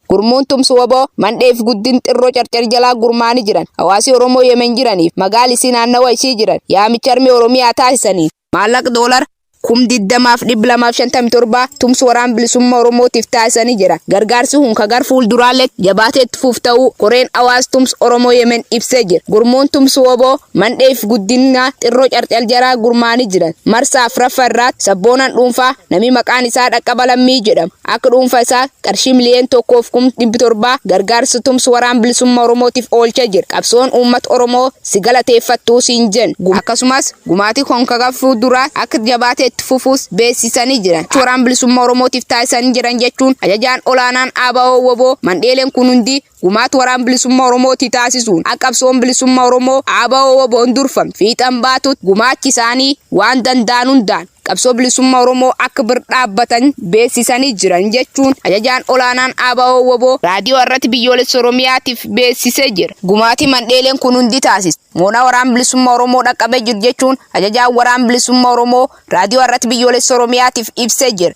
Gurmuun tumsu waboo mandhee fi guddin xirroo carcar jalaa gurmaa'anii jiran hawaasii Oromoo Yemen jiraniif magaal isii naannawa ishii jiran yaamicha armee Oromiyaa taasisaniin maallaq doolar kum 20 fi 257 tumsu waraan bilisumma Oromootiif taasisanii jira. Gargaarsi kun ka gar fuulduraalleetti jabaatee itti fuuf ta'uu koreen hawaas tumsu Oromoo Yemen ibsee jira. Gurmuun tumsu waboo mandhee fi guddinaa xirroo carcar jalaa gurmaa'anii jiran marsaa 4ffa irraatti sabboonan dhuunfaa namii maqaan isaa Dhaqqaba Lammii jedhamu Akka dhuunfaa isaa qarshii miliyoon tokkoo fi kum dhibbi torba gargaarsa tumsa Waraana Bilisummaa Oromootiif oolchee jira. Qabsoon uummata Oromoo si galateeffattuu siin jenna. Gumaachi akkasumas gumaachi kun gara fuulduraa akka jabaatee itti fufuus beeksisanii jiran. Gumaacha Waraana Bilisummaa Oromootiif taasisan jiran jechuun Ajajaan Olaanaan ABO-wbo Mandheeleen kun hundi Gumaata Waraan Bilisummaa Oromoo tti taasisuun akka Qabsoon Bilisummaa Oromoo ABO-WBOn durfamtu fiixan baatutti gumaachi isaanii waan danda'an hundaan Qabsoo Bilisummaa Oromoo akka bir dhaabbatan beeksisanii jiran jechuun Ajajaan Olaanaan ABO-WBO Raadiyoo Har'ati Biyyoolessa Oromiyaatiif beeksisee jira. Gumaati mandheeleen kun hundi taasist moonaa Waraan Bilisummaa Oromoo dhaqqabee jiru jechuun Ajajaan Waraan Bilisummaa Oromoo Raadiyoo Har'ati Biyyoolessa Oromiyaatiif ibsee jira.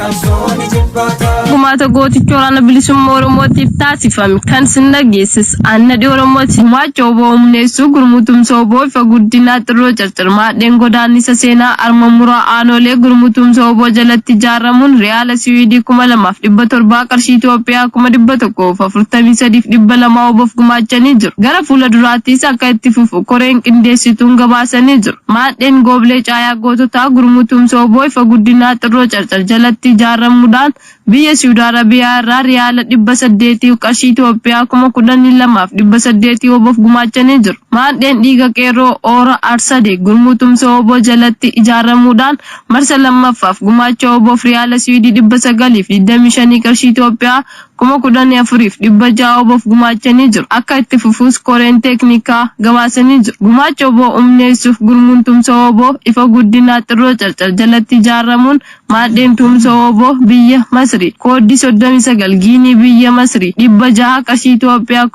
Gumaata gooticha waraana bilisummaa Oromootiif taasifame kan sin dhageessis Annadhi Oromooti. Gumaacha oboo humneessuu gurmuu tumsa oboo ifa guddinaa xirroo carcarmaa dheen godaannisa seenaa arma muraa aanoolee gurmuu tumsa oboo jalatti ijaaramuun riyaala siwiidii 2700 qarshii Itoophiyaa 143200 obof gumaachanii jiru. Gara fuula duraatiis akka itti fufu koreen qindeessituun gabaasanii jiru. Maadheen Gooblee Caayaa Goototaa Gurmuu Tumsa wbo Ifa Guddinaa Xirroo Carcar jalatti ijaarramuudhaan biyya Siwud Arabiyaa irraa Riyaala 800 yk Qarshii Itoophiyaa 12,800 wbof gumaachanii jiru. Maadheen Dhiiga Qeerroo Oora Arsade Gurmuu Tumsa wbo jalatti ijaarramuudhaan marsa 2ffaaf gumaacha wbof Riyaala Siwidii 925 yq Qarshii Itoophiyaa kuma 14 fi 600 wbof gumaachanii jiru. Akka itti fufuus koreen teeknikaa gabaasanii jiru. Gumaacha wbo umneessuuf Gurmuun Tumsa wbo ifa Guddinaa Xirroo Carcar jalatti ijaaramuun Maadheen Tuumsa wbo biyya Masrii kooddii 39 Giinii biyya Masrii 600 Qarshii Itoophiyaa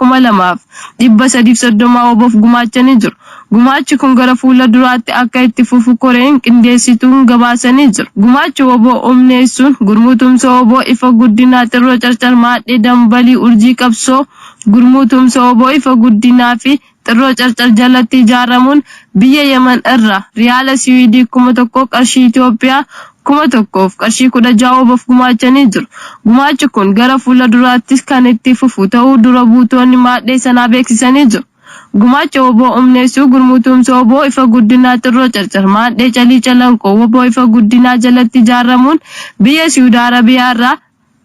2330 wbof gumaachanii jiru. Gumaachi kun gara fuula duraatti akka itti fufu koreen qindeessituun gabaasanii jiru. Gumaachi wbo humneessuun Gurmuu Tumsa wbo Ifa Guddinaa Xirroo Carcar Maadhee Dambalii Urjii Qabsoo Gurmuu Tumsa wbo Ifa Guddinaa fi Xirroo Carcar jalatti ijaaramuun biyya Yemen irraa Riyaala Siwiidii 1000 Qarshii Itoophiyaa 1000 fi Qarshii 16 wbof gumaachanii jiru. Gumaachi kun gara fuula duraattis kan itti fufu ta'uu dura buutoonni maadhee sanaa beeksisanii jiru. Gumaacha wbo umneessuu Gurmuu Tumsa wbo Ifa Guddinaa Xirroo Carcar Maadhee Calii Calanqoo wbo Ifa Guddinaa jalatti ijaarramuun biyya Siwudi Arabiyaa irraa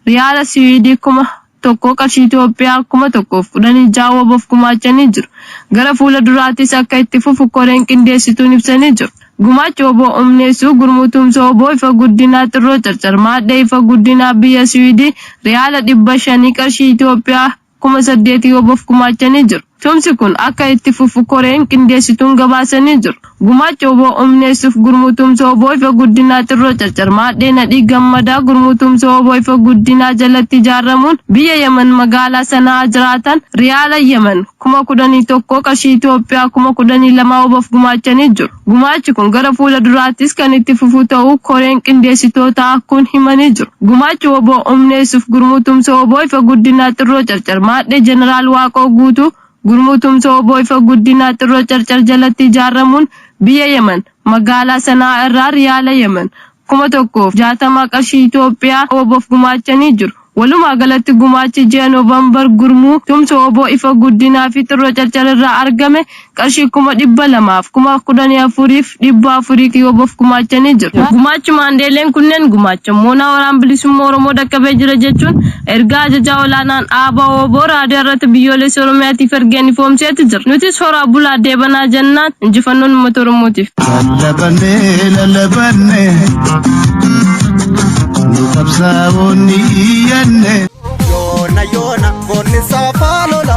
Riyaala Siwidi 1000 qarshii Itoophiyaa 1016 wbof gumaachanii jiru. Gara fuula duraatiis akka itti fufu koreen qindeessituun ibsanii jiru. Gumaacha wbo umneessuu Gurmuu Tumsa wbo Ifa Guddinaa Xirroo Carcar Maadhee Ifa Guddinaa biyya Siwidi Riyaala 500 qarshii Itoophiyaa kuma saddeetii WBOf gumaachanii jiru. Tumsi kun akka itti fufu koreen qindeessituun gabaasanii jiru. Gumaacha wbo humneessuuf Gurmuu Tumsa wbo Ifa Guddinaa Xirroo Carcar Maadhee Nadhii Gammadaa Gurmuu Tumsa wbo Ifa Guddinaa jalatti ijaarramuun biyya Yaman magaalaa Sana'aa jiraatan Riyaala Yaman kuma kudhanii tokkoo qarshii Itoophiyaa kuma kudhanii lamaa WBOf gumaachanii jiru. Gumaachi kun gara fuula duraattis kan itti fufu ta'uu koreen qindeessitootaa kun himanii jiru. Gumaachi wbo humneessuuf Gurmuu Tumsa wbo Ifa Guddinaa Xirroo Carcar Maadhee Jeneraal Waaqoo Guutuu Gurmuu Tumsa wbo Ifa Guddinaa Xirroo Carcar jalatti ijaarramuun biyya Yemen magaalaa Sana'aa irraa Riyaala Yemen kuma 1 fi 60 qarshii Itiyoophiyaa wbof gumaachanii jiru. Walumaa galatti gumaachi ji'a November gurmuu tumsa wbo Ifa Guddinaa fi Xirroo Carcar irraa argame qarshii kuma 200 fi kuma 14 fi 400 wbof gumaachanii jiru. Gumaachi maandeeleen kunneen gumaachan moonaa Waraana Bilisummaa Oromoo dhaqqabee jira jechuun Ergaa Ajajaa Olaanaan ABO-wbo Raadiyoo irratti Biyyoolessi Oromiyaatiif ergeen ifoomseeti jira. Nutis horaa bulaa deebanaa jennaan. Injifannoon Uummata Oromootiif! Lallabanne lallabanne nu qabsaa'oonni iyyanne. Yoona yoona goonni saafaa lola.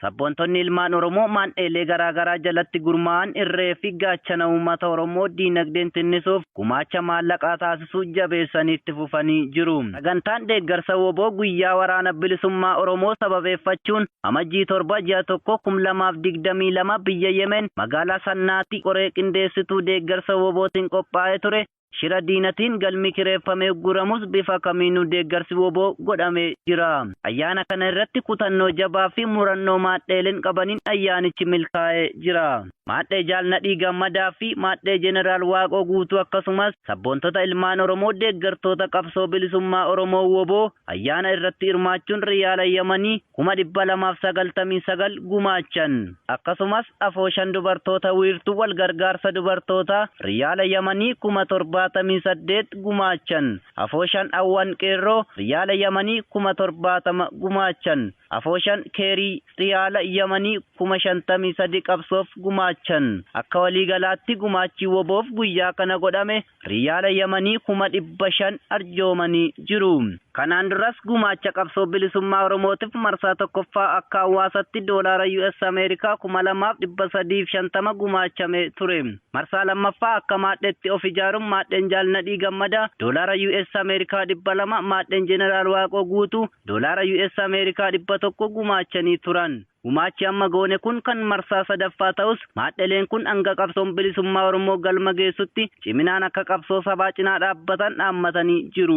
Sabboontonni ilmaan Oromoo maandheelee garaa garaa jalatti gurmaa'an irree fi gaachana uummata Oromoo diinagdeen tinnisuuf gumaacha maallaqaa taasisuu jabeessanii itti fufanii jiru. Sagantaan deeggarsa wbo guyyaa waraana bilisummaa Oromoo sababeeffachuun Amajjii 7, Ji'a 1, 2022 biyya Yemen magaalaa Sannaatii qoree qindeessituu deeggarsa wbo tiin qophaa'ee ture Shira diinatiin galmi kireeffame ugguramus bifa kamiinuu deeggarsi wbo godhamee jira. Ayyaana kana irratti kutannoo jabaa fi murannoo maadheeleen qabaniin ayyaanichi milkaa'ee jira. Maadhee Jaal Nadhii Gammadaa fi Maadhee Jeneraal Waaqoo Guutuu akkasumas sabboontota ilmaan Oromoo deeggartoota Qabsoo Bilisummaa Oromoo wbo ayyaana irratti hirmaachuun Riyaala Yamanii 299,000 gumaachan. Akkasumas afooshan dubartoota wiirtuu walgargaarsa dubartootaa riyaala yamanii kuma 78 gumaachan. Afooshan awwan qeerroo riyaala yamanii kuma 70 gumaachan. Afooshan keerii riyaala yamanii kuma 53 qabsoof gumaachan. Akka waliigalaatti gumaachi wbo-f guyyaa kana godhame Riyaala Yamanii kuma 500 arjoomanii jiru. Kanaan duras gumaacha qabsoo bilisummaa Oromootif marsaa 1ffaa akka hawwaasatti doolaara US Ameerikaa 2350 gumaachame ture. Marsaa 2ffaa akka maadheetti of ijaarun maadheen Jaal Nadhii Gammadaa doolaara US Ameerikaa 200, maadheen Jeneraal Waaqoo Guutuu doolaara US Ameerikaa 100 gumaachanii turan. Gumaachi amma goone kun kan marsaa 3ffaa ta'us, maadheleen kun hanga qabsoon bilisummaa Oromoo galma geessutti ciminaan akka qabsoo sabaa cinaa dhaabbatan dhaammatanii jiru.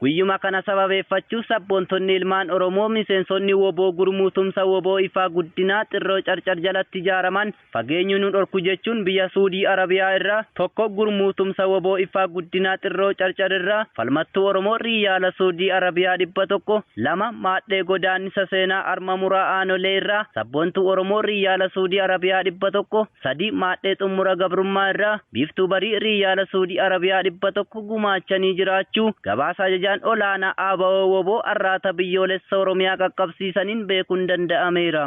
Guyyuma kana sababeeffachuuf sabboontonni ilmaan Oromoo miseensonni wbo Gurmuu Tumsa wbo Ifaa Guddinaa, Xirroo Carcar jalatti ijaaraman, Fageenyu nu dhorku jechuun biyya Suudii Arabiyaa irraa tokko gurmuu tumsa wbo Iffaa Guddinaa Xirroo Carcar irraa falmattuu Oromoo Riiyaala Suudii Arabiyaa 100, 2, Maadhee Godaannisa Seenaa Arma Muraa Aanolee irraa Sabboontuu Oromoo Riiyaala Suudii Arabiyaa 100, 3, Maadhee Xummura Gabrummaa irraa Biiftuu Barii Riiyaala Suudii Arabiyaa 100 gumaachanii jiraachuu gabaasa Ajajaan Olaanaa Abo-wbo Arraata Biyyoolessa Oromiyaa qaqqabsiisaniin beekuun danda'ameera.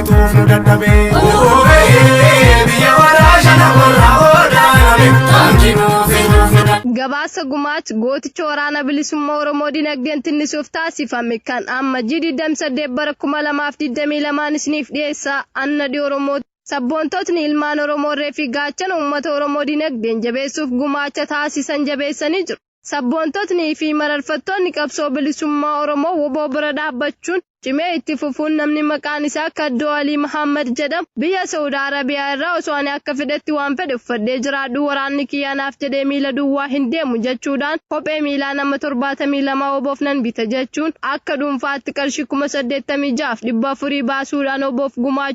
tuuf nu dadhabe. Oobee biyya warraa shana warraa boodaa yaame taanki nuuf hin tuuf nu dadhabe. Gabaasa Gumaach gooticha waraana bilisummaa Oromoo dinagdeen tinnisuuf taasifame kan amma G 28 bara 2022 isiniif dhiyeessa Anna Di Oromoo Sabboontootni ilmaan Oromoo irree fi gaachana uummata Oromoo dinagdeen jabeessuuf gumaacha taasisan jabeessanii jiru. Sabboontotnii fi mararfattoonni qabsoo bilisummaa Oromoo wbo bira dhaabbachuun cimee itti fufuun namni maqaan isaa Kaddoo Alii Mahaammad jedhamu biyya Sa'ud Arabiyaa irraa osoo ani akka fedhetti waan fedhe uffadhee jiraadhuu waraanni kiyya anaaf jedhee miila duwwaa hin deemu jechuudhaan kophee miilaa nama 72 wbof nan bita jechuun akka dhuunfaatti qarshii 86,400 baasuudhaan wbof gumaachuu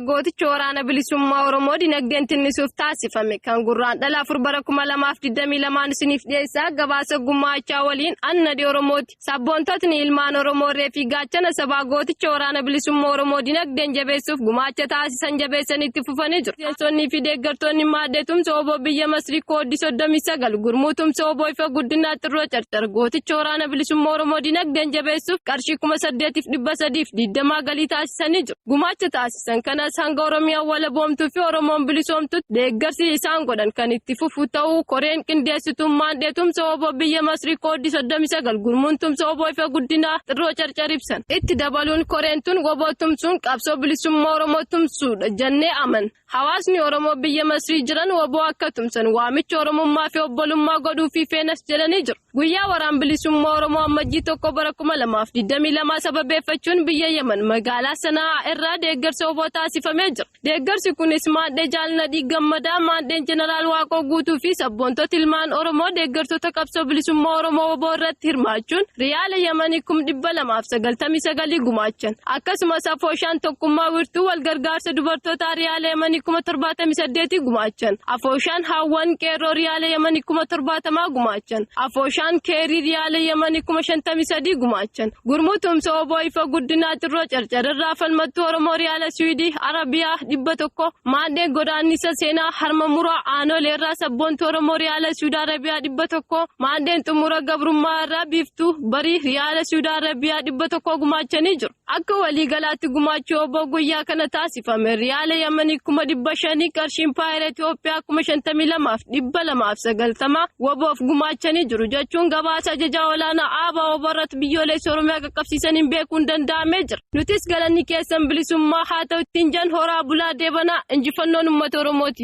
Gootichi waraana bilisummaa Oromoo dinagdeen tinnisuuf taasifame kan gurraan dhala afur bara kuma lamaaf digdamii lamaan isiniif dhiyeessaa gabaasa gummaachaa waliin annadi Oromooti. Sabboontotni ilmaan Oromoo reefii gaachana sabaa gooticha waraana bilisummaa Oromoo dinagdeen jabeessuuf gumaacha taasisan jabeessan itti fufanii jiru. Miseensonnii fi deeggartoonni maaddee tumsa oboo biyya Masrii kooddi soddomii sagal gurmuu tumsa oboo ifa guddinaa xirroo carcar gooticha waraana bilisummaa Oromoo dinagdeen jabeessuuf qarshii kuma saddeetiif dhibba sadiif digdamaa galii taasisanii jiru. gumaacha taasisan kanas hanga Oromiyaan walaboomtuu fi Oromoon bilisoomtutti deeggarsi isaan godhan kan itti fufu ta'uu koreen qindeessitummaan dheetumsa oboo biyya Masrii kooddi 39 gurmuun tumsa oboo ifa guddinaa xirroo carcar ibsan. Itti dabaluun koreen tun oboo tumsuun qabsoo bilisummaa Oromoo tumsuudha jennee amanna. Hawaasni Oromoo biyya Masrii jiran wbo akka tumsan waamicha Oromummaa fi obbolummaa godhuufii feenas jedhanii jiru. Guyyaa Waraan Bilisummaa Oromoo Ammajjii 1 bara 2022 sababeeffachuun biyya Yaman magaalaa Sana'aa irraa deeggarsa wbo taasifamee jira. Deeggarsi kunis maadhee Jaal Nadhii Gammadaa, maadheen Jeneraal Waaqoo Guutuu fi sabboontota ilmaan Oromoo deeggartoota qabsoo bilisummaa Oromoo wbo irratti hirmaachuun riyaala Yamanii kum 299 gumaachan. Akkasumas afooshaan tokkummaa wirtuu wal gargaarsa dubartootaa riyaala yamanii kuma torbaatamii saddeetii gumaachan. Afooshaan haawwan qeerroo riyaala yamanii kuma torbaatamaa gumaachan. Afooshaan keerii riyaala yamanii kuma shantamii sadii gumaachan. Gurmuu tumsa oboo ifa guddinaa xirroo carcararraa falmattuu Oromoo riyaala Siwiidii Arabiyaa dhibba tokko. Maadhee godaannisa seenaa harma muraa aanoleerraa sabboontuu Oromoo riyaala Siwuud Arabiyaa dhibba tokko. Maadheen xumura gabrummaa irraa biiftuu bariif yaala Suudaa Arabiyaa dhibba tokko gumaachanii jiru. Akka waliigalaatti gumaachuu obbo guyyaa kana taasifame riyaala Yamanii kuma dhibba shanii qarshii impaayera Itoophiyaa kuma shantamii lamaaf dhibba lamaaf sagaltama waboof gumaachanii jiru jechuun gabaasa ajajaa olaanaa aabaa oborratti biyyoolessa Oromiyaa qaqqabsiisaniin beekuun danda'amee jira. Nutis galanni keessan bilisummaa haa ta'u ittiin jan horaa bulaa deebanaa injifannoon uummata Oromooti.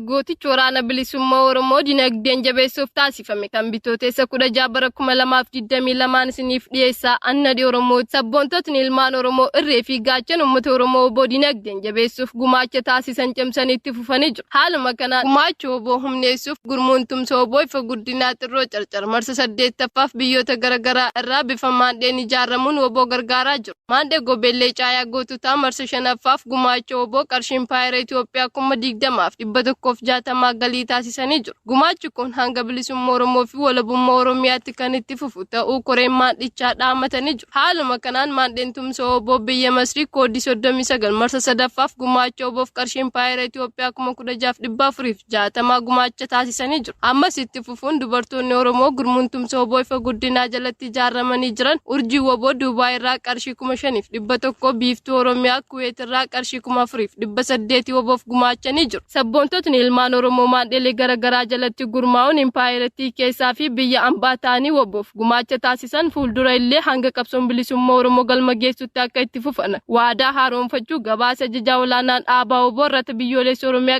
Gootichi Waraana Bilisummaa Oromoo dinagdeen jabeessuuf taasifame kan bitooteessa 16 bara 2022 isiniif dhiyeessaa annadhi Oromoo sabboontotni ilmaan Oromoo irree fi gaachan uummata Oromoo oboo dinagdeen jabeessuuf gumaacha taasisan cimsanii itti fufanii jiru. Haaluma kanaan gumaacha oboo humneessuuf gurmuun tumsa oboo ifa guddinaa xirroo carcar marsa 8ffaaf biyyoota garaagaraa irraa bifa maandheen ijaaramuun oboo gargaaraa jiru. Maandhee Gobeellee Caayaa Goototaa marsa shanaffaaf gumaacha oboo qarshii Impaayera Itoophiyaa kuma digdamaaf dhibba tokkoof jaatamaa galii taasisanii jiru. Gumaachi kun hanga bilisummaa Oromoo fi walabummaa Oromiyaatti kan itti fufu ta'uu koreen maandhichaa dhaamatanii jiru. Haaluma kanaan maandheen tumsa oboo biyya Masrii koodii soddomii sagal marsa sadaffaaf gumaacha oboof qarshii Impaayera Itoophiyaa kuma kudha jaaf dhibba afuriif jaatamaa gumaacha taasisanii jiru. Ammas itti fufuun dubartoonni Oromoo gurmuun tumsa woboo ifa guddinaa jalatti ijaarramanii jiran urjii woboo Duubaay irraa qarshii kuma shaniif dhibba tokko biiftuu Oromiyaa Kuweet irraa qarshii kuma afuriif dhibba saddeeti woboof gumaachanii jiru. Sabboontotni ilmaan Oromoo maadhelee gara garaa jalatti gurmaa'uun impaayerattii keessaa fi biyya ambaa ta'anii woboof gumaacha taasisan fuuldura illee hanga qabsoon bilisummaa Oromoo galma geessutti akka itti fufan waadaa haaroomfachuu gabaasa Ajajaa Olaanaan Aabaa wbo irrata biyyooleessa Oromiyaa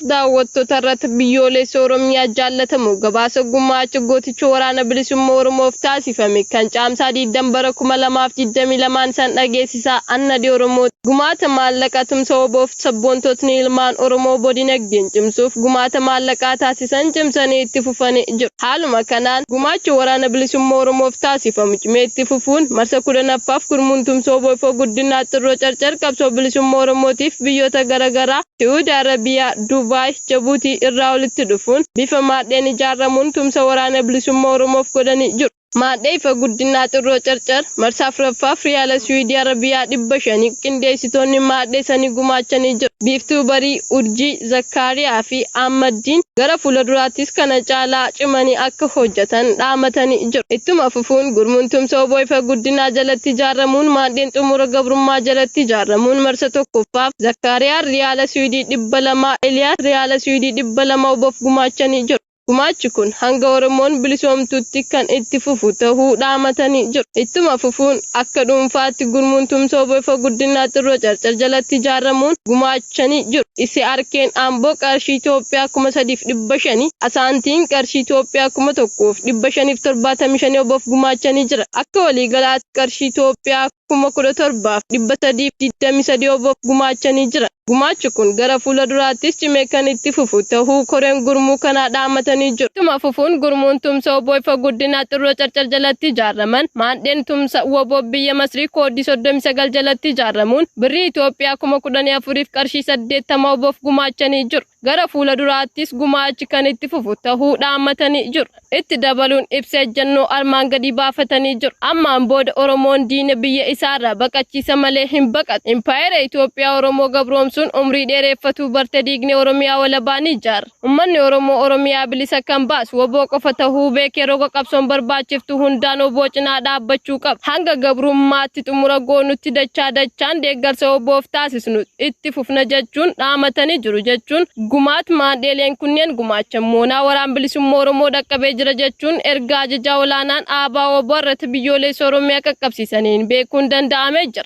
Daawwattoota irratti Biyyoolessa Oromiyaa Jaallatamoo Gabaasa Gumaacha Gooticha Waraana Bilisumma Oromoof Taasifame Kan Caamsaa 20 Bara 2022n Isan Dhageessisaa An Nadhii Oromooti Gumaata Maallaqa Tumsa WBOf Sabboontotni Ilmaan Oromoo Wbo Dinagdeen Cimsuuf Gumaata Maallaqaa Taasisan Cimsanii Itti Fufani Jiru Haaluma Kanaan Gumaacha Waraana Bilisumma Oromoof Taasifamu Cimee Itti Fufuun Marsa 10ffaaf Gurmuun Tumsa WBOfo Guddinaa Xirroo Carcar Qabsoo Bilisumma Oromootiif Biyyoota Gara Garaa Su'uudi Arabiyaa, Dubaay, Jabuutii irraa walitti dhufuun bifa maadheen ijaarramuun tumsa Waraana Bilisummaa Oromoof godhanii jiru. Maadhee Ifa Guddinaa Xirroo Carcar marsaa 4ffaaf Riyaala Su'uudi Arabiyaa 500 qindeessitoonni maadhee sanii gumaachanii jiru. Biiftuu Barii, Urjii, Zakkaariyaa fi Ahmad Diin gara fuula duraattis kana caalaa cimanii akka hojjatan dhaamatanii jiru. Ittuma fufa. dhufuun Gurmuun Tumsa wbo Ifa Guddinaa jalatti ijaarramuun Maandheen Xumura Gabrummaa jalatti ijaarramuun marsa 1ffaaf Zakkaariyaan Riyaala Siwidii 200, Eliyaas Riyaala Siwidii 200 wbof gumaachanii jiru. Gumaachi kun hanga Oromoon bilisoomtutti kan itti fufu tahuu dhaamatanii jiru. Ittuma fufuun akka dhuunfaatti Gurmuun Tumsa wbo Ifa Guddinaa Xirroo Carcar jalatti ijaarramuun gumaacha. raawwachanii jiru. Isi'aarkeen Amboo qarshii Itoophiyaa kuma 3 fi 500, Asaantiin qarshii Itoophiyaa kuma 1 fi 575 wbof gumaachanii jiran. Akka waliigalaatti qarshii Itoophiyaa kuma 17 fi 323 wbof gumaachanii jiran. Gumaachi kun gara fuula duraattis cimee kan itti fufu tahuu koreen gurmuu kanaa dhaamatanii jiru. Ittuma fufuun gurmuun tumsa wbo ifa guddinaa Xirroo Carcar jalatti ijaaraman maandheen tumsa wbo biyya Masrii kooddii 39 jalatti ijaaramuun birrii Itoophiyaa kuma kudhanii afuriif qarshii saddeettama oboof gumaachanii jiru. Gara fuula duraattis gumaachi kan itti fufu tahuu dhaammatanii jiru. Itti dabaluun ibsa ejjannoo armaan gadii baafatanii jiru. Ammaan booda Oromoon diina biyya isaarraa baqachiisa malee hin baqatu. Impaayera Itoophiyaa Oromoo gabroomsuun umrii dheereeffatuu barte diignee Oromiyaa walabaa ni ijaarra. Ummanni Oromoo Oromiyaa bilisa kan baasu wbo qofa tahuu beekee roga qabsoon barbaachiftu hundaan wbo cinaa dhaabbachuu qaba. Hanga gabrummaatti xumura goonutti dachaa dachaan deeggarsa WBOf taasisnu itti fufna jechuun dhaamatanii jiru jechuun gumaat maandheeleen kunneen gumaachan moonaa Waraan Bilisumma Oromoo dhaqqabee jira jechuun ergaa Ajajaa Olaanaan ABO-wbo irratti Biyyooleessa Oromiyaa qaqqabsiisaniin beekuun danda'amee jira.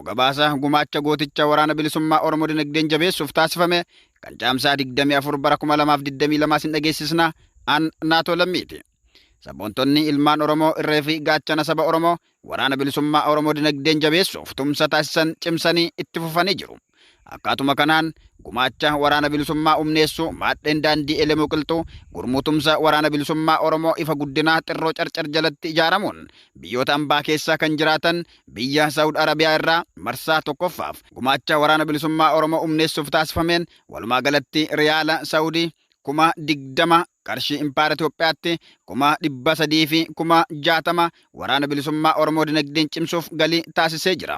Gabaasa gumaacha gooticha Waraana Bilisummaa Oromoo dinagdeen jabeessuuf taasifame kan Caamsaa 24 bara 2022 isin dhageessisna an Naatoo Lammiiti. Sabboontonni ilmaan Oromoo irree fi gaachana saba Oromoo Waraana Bilisummaa Oromoo dinagdeen jabeessuuf tumsa taasisan cimsanii itti fufanii jiru. Akkaatuma kanaan gumaacha Waraana Bilisummaa humneessuu maadheen daandii Elemuu Qilxuu gurmuu tumsa Waraana Bilisummaa Oromoo ifa guddinaa Xirroo Carcar jalatti ijaaramuun biyyoota ambaa keessaa kan jiraatan Biyya Sa'ud Arabiyaa irraa marsaa tokkoffaaf gumaacha Waraana Bilisummaa Oromoo umneessuuf taasifameen walumaa galatti Riyaala Sa'udii kuma 20 qarshii Impaayera Itoophiyaatti kuma 300 fi kuma 60 Waraana Bilisummaa Oromoo dinagdeen cimsuuf galii taasisee jira.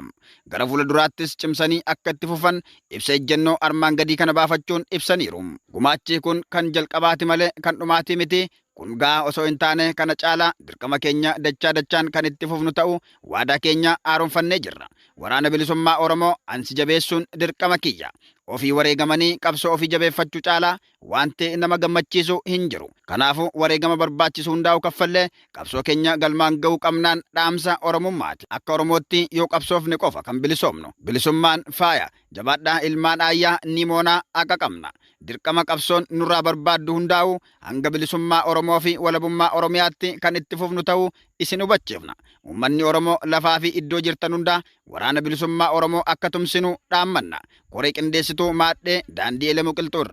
Gara fuula duraattis cimsanii akka itti fufan ibsa ejjennoo armaan gadii kana baafachuun ibsaniiru. Gumaachi kun kan jalqabaati malee kan dhumaatii miti, Kun ga'aa osoo hin taane kana caalaa dirqama keenya dachaa dachaan kan itti fufnu ta'uu waadaa keenya haaromfannee jirra. Waraana Bilisummaa Oromoo ansi jabeessuun dirqama kiyya. Ofii wareegamanii qabsoo ofii jabeeffachuu caalaa waanti nama gammachiisu hin jiru. Kanaafuu wareegama barbaachisu hundaa'uu kaffallee qabsoo keenya galmaan ga'uu qabnaan dhaamsa Oromummaati. Akka Oromootti yoo qabsoofne qofa kan bilisoomnu. Bilisummaan faaya. Jabaadhaa ilmaan Aayyaa Nimoonaa haqa qabna. Dirqama qabsoon nurraa barbaaddu hundaa'u hanga bilisummaa Oromoo fi walabummaa Oromiyaatti kan itti fufnu ta'uu isin hubachiifna. Uummanni Oromoo lafaa fi iddoo jirtan hundaa Waraana Bilisummaa Oromoo akka tumsinu dhaammanna. Koree Qindeessituu Maadhee Daandii Elemu Qilxuu irraa.